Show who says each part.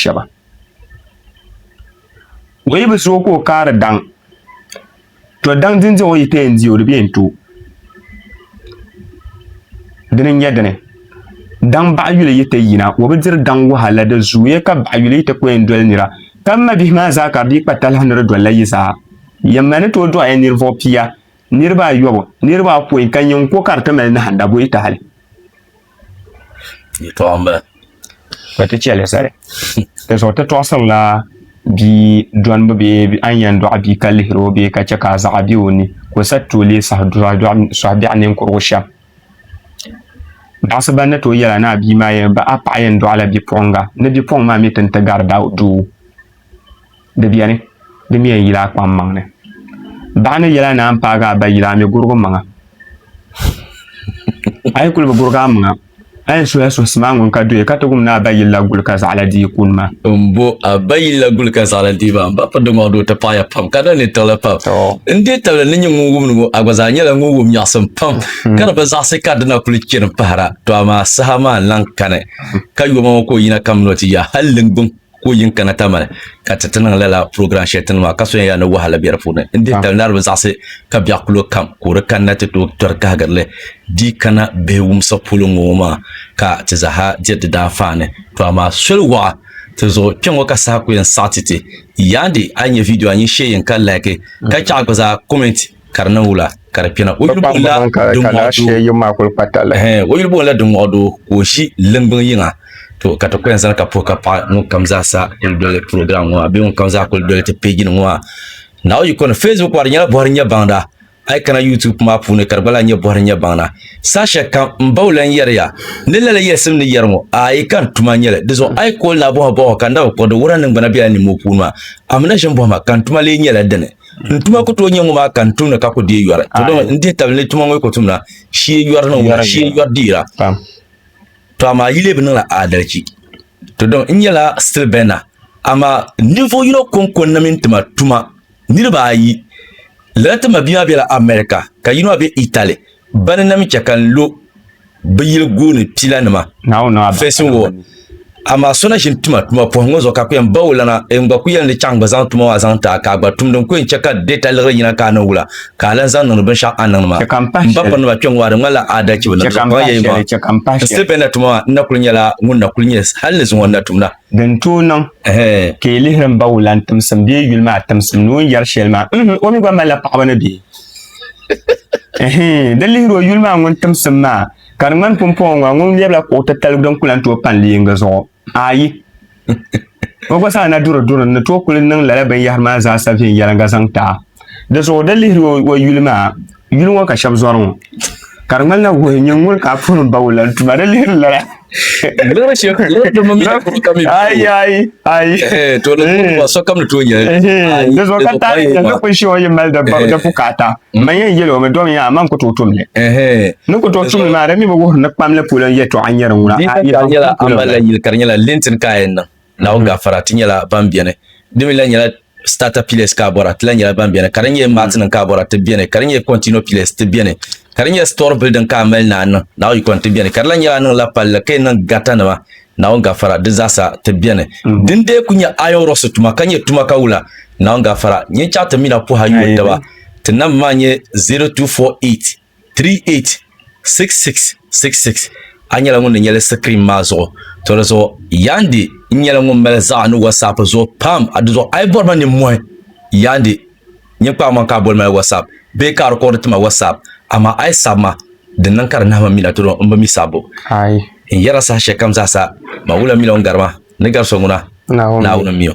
Speaker 1: shɛba. O yi bi zooi ka o kaari daŋ to daŋ din diɛm o yi pee n-di o di bee n-tooi dini n-nyɛ dini daŋ baɣiyuli yi ti yina o bi diri daŋ wahala di zooya ka baɣiyuli yi ti ko yɛn doli nira ka m mabihi maa zaa ka bɛ kpa talahi ni di dolila yi zaa yɛn ma ni tooi dɔɣiya ninvuɣ pia niriba ayɔbu niriba apɔin ka nyin ko ka di ti mali nahinda bɔ yi tahali
Speaker 2: yɛtɔɣa n bala ka ti chɛ
Speaker 1: li zali di zuɣu ti tɔɣisirila bia dɔnbu bee a ni yɛn dɔɣi bia ka lihiri o bee ka chɛ ka zaɣa bɛ o ni ka o sa ti o lee sɔhi biɛɣu ninkurigu shɛm baɣisiba ni tooi yɛla ni a bia maa yɛn bahi a paɣa yɛn dɔɣila bipuɣiŋga ni bipuɣiŋ maa mi ti ni ti gari doo di beni, di mi yɛn yila a kpaŋ maŋ ni. Baɣa ni yɛla naan paagi a ba yila a mi gurigi maŋa. A yi kuli bi gurigi a maŋa, a yɛn suhila suhusima ŋun ka doya ka ti wum ni a ba yilila guli ka zaɣila dii kuni ma. N bo a ba
Speaker 2: yilila guli ka zaɣila dii ma, m ba piridi ŋɔɣu doo ti paɣiya pam ka di ni tiɣili pam. N deei tabili ni nyɛ ŋun wum ni ŋɔ, a gba zaa nyɛla ŋun wum nyaɣisim pam ka di bi zaɣisi ka di na kuli chani pahira. Tɔ amaa saha maa n-lan kani ka yoma ŋɔ ka o yina kamina o ti ya hal liŋgbuŋ. ka o yin kana tamali ka ti ti niŋ lala program shɛli ti ni maa ka soya yaa ni wahala bɛ di puuni n dihi tali nariba zaɣisi ka biɛɣu kulo kam ka o di kanna ti tooi tɔri kahigirili di kana bihi wumsa polo ŋɔ maa ka ti zaha diri di daanfaani to amaa soli waɣa ti zuɣu kpɛ ŋɔ ka saha ku yɛn saɣiti ti yaandi a yi nyɛ vidiyo a nyin shee yɛn ka laaki ka chɛɣu gba zaa kɔmɛnti ka di niŋ wula ka di kpɛna o yuli buɣumla
Speaker 1: o yuli buɣumla din
Speaker 2: ŋɔɣu doo ka o ʒi limbiŋ yiŋa to ka ti kuli zani ka puhi ka paɣi ŋun kam zaa sa kuli doli program ŋɔ bee ŋun kam zaa kuli doli ti page nim ŋɔ maa naawuni yiko ni facebook maa di nyɛla bɔhiri nyɛ baŋda a yi kana youtube maa puuni ka di gba lahi nyɛ bɔhiri nyɛ baŋda saha shɛli kam n baw lan yɛriya ni lala yɛlisim ni yɛri ŋɔ ayi ka n tuma nyɛli di zuɣu a yi kooli naa bɔhima bɔhima ka n da bi kpuɣi di wuhiri a ni ŋmana bela niŋ moo puuni maa amina ʒini bɔhima ka n tuma lee nyɛla dini N tuma ku tooi nyɛ ŋɔ maa ka n tumdi ka ku deei yɔri. To dama n dihi tabili ni tuma ŋɔ yi ku tumda shee yɔri ni ŋɔ shee yɔri diira. To amaa yi lee bi niŋla aadalichi. To dama n nyɛla Still Bender amaa ninvuɣu yino kɔŋko n na mini tima tuma niriba ayi lala ti mabia maa bela America ka yino maa be Italy bani n na mi chɛ ka n lo bi yili gooni pila nima facing
Speaker 1: wall
Speaker 2: amaa so na ʒini tuma tuma pɔhim ŋɔ zuɣu ka ku yɛn ba o lana n gba ku yɛli ni chaŋ gba zaŋ tuma maa zaŋ taa ka a gba tumdi n ku yɛn chɛ ka data liɣiri yina ka a niŋ wula ka a lan zaŋ niŋdi binshɛɣu a niŋdi maa n ba pirinima kpɛŋ ŋɔ a di ŋmanila aadalichi bi niŋ zuɣu yɛyi maa n siri bɛ ni na tuma maa n na kuli nyɛla ŋun na kuli nyɛ hali ni zuŋɔ n na tumda din tooi niŋ
Speaker 1: ka yi lihiri n ba wulan timsim bee yuli maa timsim ni o ni yɛri shɛli maa o mi gba malila paɣaba ni bihi di lihiri o yuli maa ŋun timsim maa ka di ŋmani pumpɔŋɔ ŋɔ ŋun lɛbila kuɣu titali din kuli n tooi pandi yinga zuɣu ayi o gba zaa na duri duri ni tooi kuli niŋ lala binyahari maa zaasa viɛnyɛliŋga zaŋ ti a di zuɣu di lihiri o yuli maa yuli ŋɔ ka shɛba zɔri ŋɔ ka di ŋmanila wuhi nyɛ ŋun ka puhi n ba wula n tuma di lihiri lala lihiri shɛm
Speaker 2: lihiri dama mi ka mi ayi ayi ayi
Speaker 1: to ni kuma
Speaker 2: so kam ni to nyɛ di zuɣu ka
Speaker 1: taari ni ni kun shɛŋa yi mali di bukaata man yɛn yɛli o mi dɔmi yaa man ku tooi tumli ni ku tooi tumli maa di mi bi wuhiri ni kpamli polo n yɛtɔɣa nyɛri ŋuna nyɛla
Speaker 2: amala yili ka di nyɛla lintin ka yɛn niŋ Naawuni gafara, ti nyɛla ban beni. Di mi lahi nyɛla Starter Pillars ka a bɔra, ti lahi nyɛla ban beni. Ka di nyɛ Matinima ka a bɔra, ti beni. Ka di nyɛ Continual Pillars, ti beni. Ka di nyɛ Store Building ka a mali ni a niŋ, Naawuni yiko ni, ti beni. Ka di lahi nyɛla a niŋla palli ka yi niŋ gatanima, Naawuni gafara, di zaasa, ti beni. Din dee kuli nyɛ Iron Rocks tuma ka nyɛ tuma ka wula, Naawuni gafara, nyin chaŋ ti mi na pɔhi a yuun taba. Ti namba maa nyɛ 0248. 386666 A nyɛla ŋun ni nyɛli sikirin maa zuɣu to di zuɣu Yandi n nyɛla ŋun mali zaɣa ni WhatsApp zuɣu pam a di zuɣu a yi bɔri ma ninmohi Yandi nyin kpaai ma ka a boli ma WhatsApp bee ka a rikɔɔdi ti ma WhatsApp amaa a yi sabi ma di niŋ ka di nahi ma mina to di zuɣu n bi mi sabbu n yɛra saha shɛli kam zaa sa ma wula mila o ni gari
Speaker 1: ma
Speaker 2: ni gari so ŋuna Naawuni n mi o.